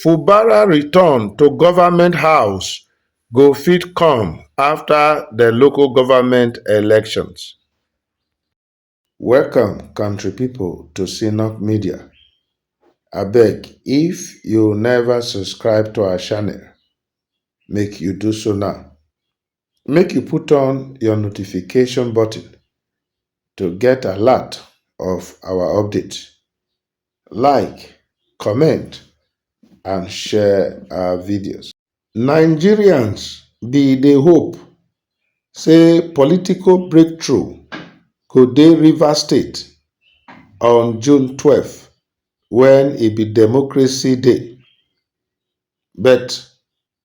fubara return to goment house go fit come afta de local goment elections. Welcome country people to Synock Media. Abeg if you never subscribe to our channel, make you do so now. Make you put on your notification button to get alert of our update. Like, comment and share our videos. Nigerians be dey hope say political breakthrough go dey Rivers State on June twelve wen e be democracy day, but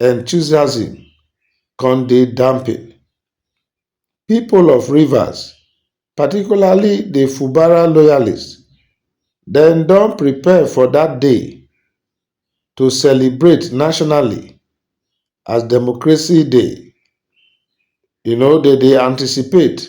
enthusiasm come dey dampened, pipo of Rivers, particularly di Fubara loyalists, dem don prepare for dat day to celebrate nationally as Democracy Day, um dem dey anticipate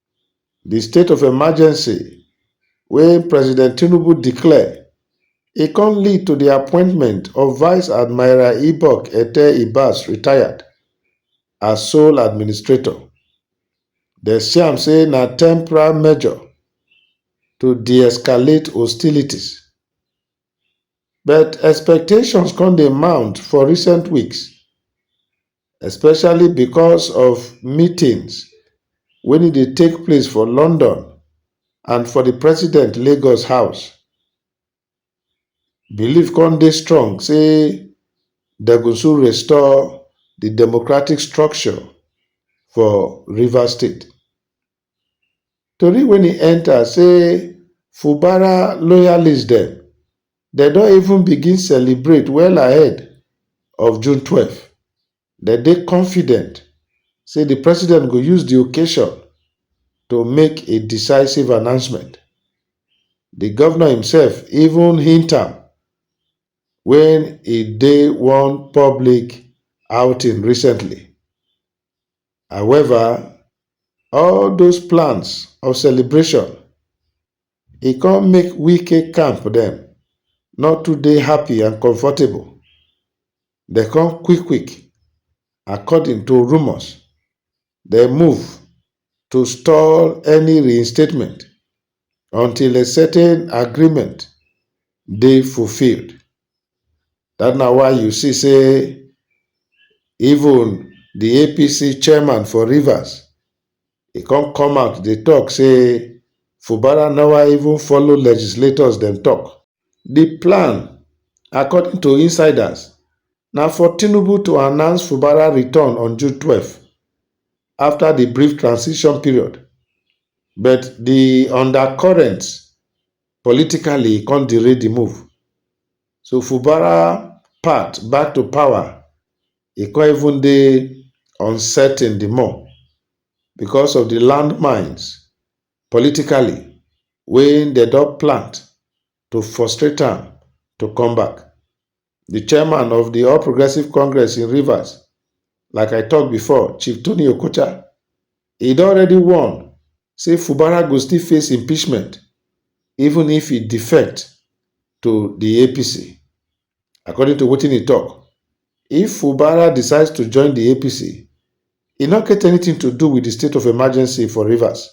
Di state of emergency wey President Tinubu declare, e come lead to di appointment of Vice Admiral Ibok Ete Ibas, retired, as sole administrator. Dem see am say na temporary measure to de-escalate hostilities. But expectations come dey mount for recent weeks especially becos of meetings wen e dey take place for London and for di president Lagos house. Believe come dey strong say dem go soon restore di democratic structure for Rivers state. Tori wey e enter say Fubara loyalists dem dem don even begin celebrate well ahead of June twelve. Dem dey confident say di president go use di occasion to make a decisive announcement. Di govnor imsef even hint am wen e dey one public outing recently. However, all those plans of celebration, e come make Wike camp dem no too dey happy and comfortable. Dem come quick quick, according to rumours, dem move to stall any reinstatement until a certain agreement dey fulfilled. That na why you see say even the APC chairman for Rivers, he come come out dey talk say Fubara never even follow legislators dem talk. The plan, according to insiders, na for Tinubu to announce Fubara return on June twelve after the brief transition period But di undercurrent politically come derail di move. So Fubara path back to power e come even dey uncertain di more because of di landmines politically wey dem don plant to frustrate am to come back. di chairman of di all progressives congress in rivers like i tok before chief tony okocha e don already warn say fubara go still face impeachment even if e defect to di apc according to wetin e tok if fubara decides to join di apc e no get anything to do wit di state of emergency for rivers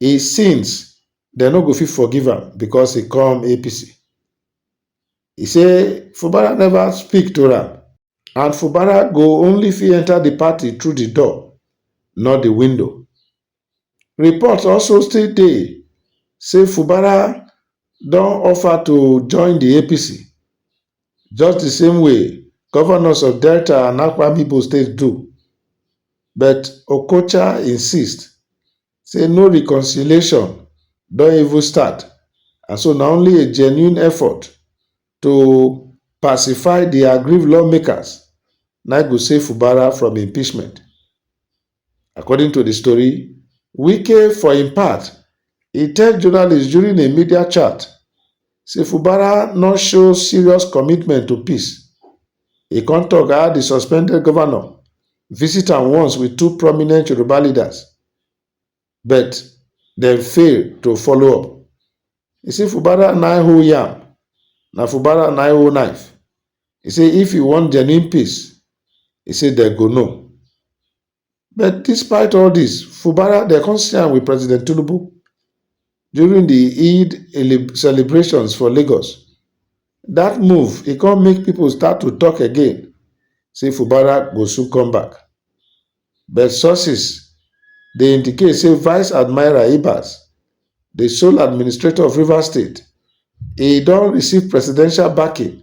e sins dem no go fit forgive am becos e come apc E say Fubara never speak to am and Fubara go only fit enter the party through the door, not the window. Reports also still dey say Fubara don offer to join the APC, just the same way governors of Delta and Akwa Ibom states do, but Okocha insist say no reconciliation don even start and so na only a genuine effort to pacify di aggrieved lawmakers na im go save Fubara from impeachment. According to di story, Wike for im part, e tell journalists during a media chat Say Fubara no show serious commitment to peace. E come talk how the suspended governor visit am once with two prominent Yoruba leaders, but dem fail to follow up. E say Fubara nai hold yam, na Fubara nai hold knife. E say if e want genuine peace, e say dem go know. But despite all this, Fubara, they come see am with President Tinubu during the Eid celebrations for Lagos. That move, e come make people start to talk again, say Fubara go soon come back. But sources dey indicate say Vice Admiral Ibas, the sole administrator of Rivers State, e don receive presidential backing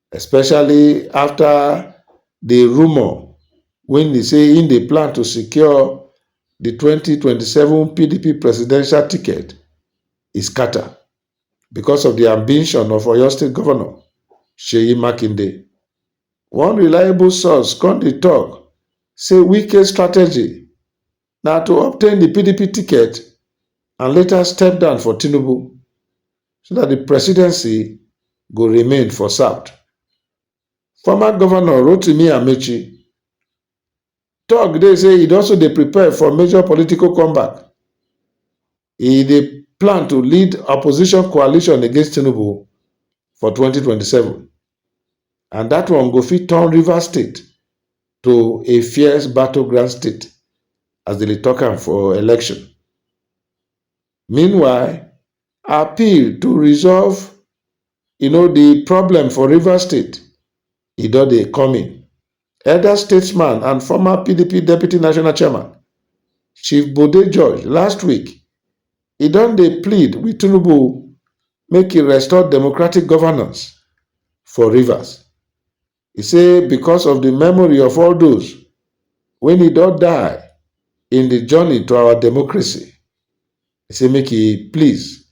especially afta di rumour wey be say im dey plan to secure di twenty twenty seven pdp presidential ticket e scata becos of di ambition of oyo state govnor seyi makinde one reliable source come dey tok say wike strategy na to obtain di pdp ticket and later step down for tinubu so dat di presidency go remain for south former govnor rotimi amaechi tok dey say e also dey prepare for major political comeback e dey plan to lead opposition coalition against tinubu for 2027 and dat one go fit turn rivers state to a fierce battleground state as dem dey tok am for election meanwhile appeal to resolve you know di problem for rivers state e don dey coming Elder statesman and former PDP deputy national chairman, Chief Bode George, last week, e don dey plead with Tinubu make e restore democratic governance for Rivers. E say because of the memory of all those wey e don die in the journey to our democracy, e say make e please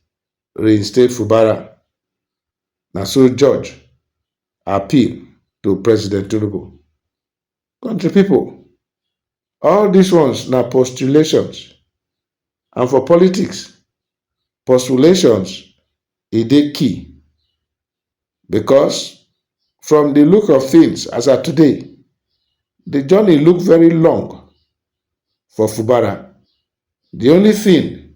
reinstate Fubara, na so judge appeal to President Tinubu. Country people, all these ones na postulations and for politics, postulations e dey key because from the look of things as at today, the journey look very long for Fubara. The only thing